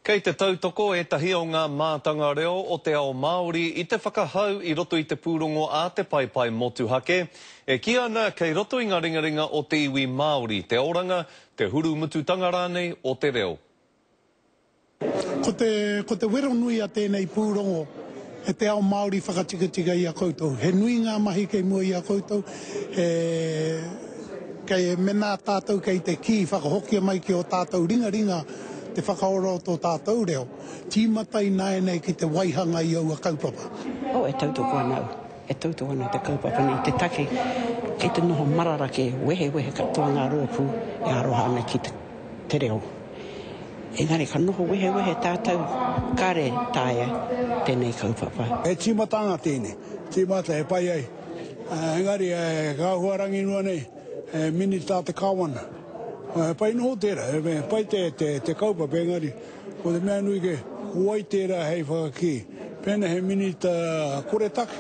Kei te tautoko ētahi o ngā mātanga reo o te ao Māori i te whakahau i roto i te pūrongo a Te Paepae Motuhake, e kī ana kei roto i ngā ringaringa o te iwi Māori te oranga, te hurumututanga rānei o te reo. Ko te wero nui a tēnei pūrongo He te ao Māori whakatikatika i a koutou. He nui ngā mahi kei mua i a koutou, he, kei, menā tātou kei te kī whakahokia mai ki ō tātou ringaringa te whakaora o tō tātou reo, tīmata ināianei ki te waihanga i aua kaupapa. Oh, e tautoko ana au, e tautoko ana te kaupapa nei i te take kei te noho marara kē, wehewehe katoa ngā rōpū e aroha ana ki te. te reo. Engari ka noho wehewehe tātou, kare taea tēnei kaupapa. He tīmatanga tēnei, tīmata e pai ai, engari ka huarangi noa nei he Minita te Kāwana. He pai noho tērā, he pai te kaupapa engari. Ko te mea nui kē, ko wai tērā hei whakakī pēnā he minita koretake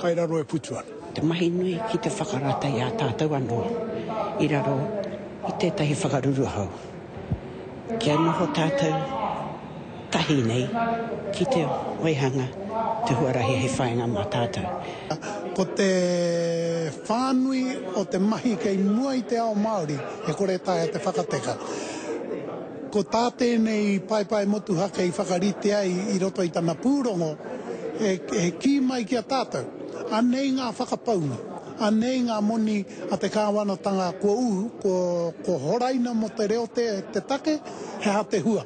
kai raro e putu ana? Te mahi nui ki te whakarata i a tātou anō i raro i tētahi whakaruruhau. Kia noho tātou tahi nei ki te waihanga te huarahi hei whainga mā tātou. Ko te whānui o te mahi kei mua i te ao Māori e kore taea te whakateka. Ko tā tēnei paepae motuhake i whakarite ai i roto i tana pūrongo, he kī mai ki a tātou, anei ngā whakapaunga, anei ngā moni a te kāwanatanga kua uhu, kua horaina mō te reo te take, he aha te hua?